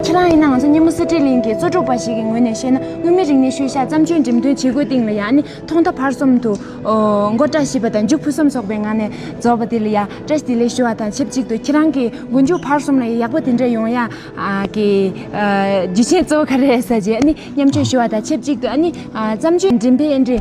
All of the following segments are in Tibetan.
ཁྱེད་རང་ཡིན་ན་ང་ཚོ་སྙེ་མོ་གསེར་ཁྲི་གླིང་གི་གཙོ་སྒྲུབ་པ་ཞིག་གི་ངོས་ནས་བཤད་ན་དངོས་མིན་རིག་གནས་ཤུལ་བཞག་བརྩམས་ཆོས་འགྲེམས་སྟོན་བྱེད་སྒོའི་སྟེང་ལ་ཡང་ནི་ཐོག་མཐའ་བར་གསུམ་དུ་མགོ་བཀྲ་ཤིས་པ་དང་མཇུག་ཕུན་སུམ་ཚོགས་པའི་ངང་ནས་རྫོགས་པ་དེ་ལ་ཡང་བཀྲ་ཤིས་བདེ་ལེགས་ཞུ་བ་དང་ཆབས་ཅིག་ཏུ་ཁྱེད་རང་གི་མགོ་མཇུག་བར་གསུམ་ལ་ཡང་ཡག་པོ་དེ་འདྲ་ཡོང་ཡ་གི་རྒྱུ་ཆའི་གཙོ་བོ་ག་རེ་ཟ་ཆེད་ཨ་ནི་མཉམ་སྤྱོད་ཞུ་བ་དང་ཆབས་ཅིག་ཏུ་ཨ་ནི་བརྩམས་ཆོས་འགྲེམས་སྤེལ་འབྲེལ་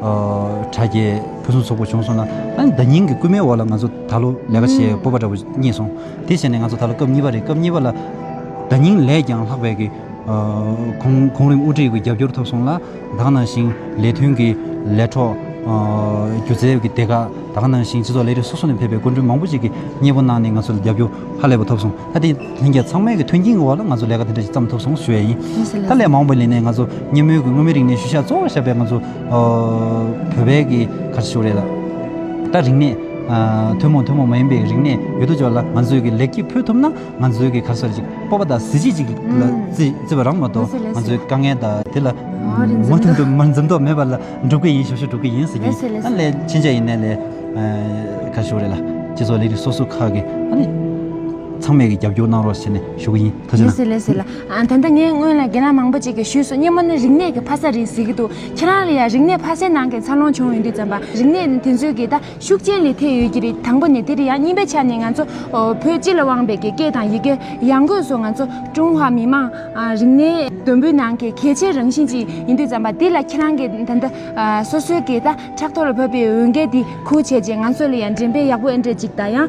དྲ་རྒྱའི་ཕུན་སུམ་ཚོགས་པོ་བྱུང་སོང་ལ། ཨ་ནི་ད་སྙིང་གི་སྐུད་མའི་འོག་ལ་ང་ཚོ་ད་ལོ་ལས་ཀ་བྱེད་སྤོབས་པ་འདྲ་པོ་རྙེད་སོང། དེ་བྱས་ནས་ང་ཚོ་ད་ལོ་སྐབས་གཉིས་པ་རེད་སྐབས་གཉིས་པ་ལ། ད་སྙིང་ལས་ཀྱང་ལྷག་པའི་གི། གོང་རིམ་དབུ་ཁྲིད་ཀྱི་རྒྱབ་སྐྱོར་ཐོབ་སོང་ལ། དག་སྣང་ཞིང་ལས་ཐོན་གྱི་ལས་གྲོགས། སྒྱུ་རྩལ་གྱི་སྡེ་ཁག་དག་སྣང་ཞིང་སྤྱི་ཚོགས་ལས་རིགས་སོ་སོ་ནས་ཕེབས་པའི་སྐུ་མགྲོན་མང་པོ་ཅིག་གིས་མཉེས་པོ་གནང་ནས་ང་ཚོ་ལ་རྒྱབ་སྐྱོར་ཧ་ལས་པ་ཐོབ་སོང་ཨ་ཏི། ལྷན་རྒྱས་ཚང་མས་ཀྱི་མཐུན་རྐྱེན་གྱི་འོག་ལ་ང་ཚོ་ལས་ཀ་དེ་འདྲ་ཞིག་བརྩམས་ཐུབ་སོང་ཞུ་བ་ཡིན། ད་ལས་མང་པོ་ལས་ནས་ང་ཚོ་སྙེ་མོའི་གུར་སྔོན་མའི་རིག་གནས་ཤུལ་བཞག་གཙོ་བོར་བཞག་པའི་ང་ཚོ་བོད་པའི་གི་གར་ཤུལ་རེད་ལ། ད་རིག་གནས་ཐུན་མོང་ཐུན་མོང་མ་ཡིན་པའི་རིག་གནས་ཡོད་དོ་ཅོག་ལ་ང་ཚོས་ཀྱི་ལེགས་སྐྱེས་ཕུལ་ཐུབ་ན་ང་ཚོའི་གི་གར་ས་རེ་ཅིག་སྤོབས་པ་དང་གཟི་བརྗིད་ཅིག་ལ་བརྩི་བ་རང་མ་གཏོགས་ང་ཚོའི་དཀའ་ངལ་དང་དེ་ལ་མུ་མཐུད་དུ་མར་འཛེམ་དོགས་མེད་པ་ལ་འགྲུབ་ཀྱི་ཡིན་ཞུ་ཞུ་འགྲུབ་ཀྱི་ཡིན་ཟེར་རྒྱུ་ཡིན་ད་ལས་ཕྱིན་ཆད་ཡིན་ན་ལས་གར་ཤུལ་རེད་ལ་སྤྱི་ཚོགས་ལས་རིགས་སོ་སོ་ཁག་གི་ཨ་ནི། ཚང་མས་ཀྱི་རྒྱབ་སྐྱོར་གནང་རོགས་ཟེར་ནས་ཞུ་གི་ཡིན་ཐུགས་རྗེ་ལེ་གནང། ཟེར་ལེ་ཟེར་ལ། ད་ལྟ་ངས་སྔོན་ལ་རྒན་ལགས་མང་པོ་ཅིག་གིས་ཞུས་སོང་སྙེ་མོ་ནི་རིག་གནས་ཀྱི་ཕ་ས་རེད་ཟེར་གྱི་འདུག་ཁྱེད་རང་ལ་ཡང་རིག་གནས་ཕ་སའི་ནང་གི་འཚར་ལོངས་བྱུང་ཡོང་དུས་རྩམ་པ་རིག་གནས་ནི་དེ་ཚོའི་གི་ད་ཤུགས་རྐྱེན་ལས་ཐེག་ཡོད་ཀྱི་རེད་དང་པོ་ནས་དེ་རེད་ཡང་གཉིས་པའི་ཆ་ནས་ང་ཚོ་བོད་སྤྱི་ལ་དབང་བའི་གི་སྐད་དང་ཡི་གེ་ཡང་སྒོས་སུ་ང་ཚོ་ཀྲུང་ཧྭ་མི་དམངས་རིག་གནས་དུམ་བུའི་ནང་གི་གལ་ཆེའི་རང་བཞིན་ཅིག་ཡིན་དུས་རྩམ་པ་དེ་ལ་ཁྱེད་རང་གི་ད་ལྟ་སོ་སོའི་གི་ད་ཕྲག་ཐོག་ལ་བབས་པའི་འོས་འགན་དེ་ཁུར་བྱས་རྗེས་ང་ཚོ་ལ་ཡང་འགྲེམས་སྤེལ་ཡག་པོ་ཨེ་འདྲས་ཅིག་དང་ཡང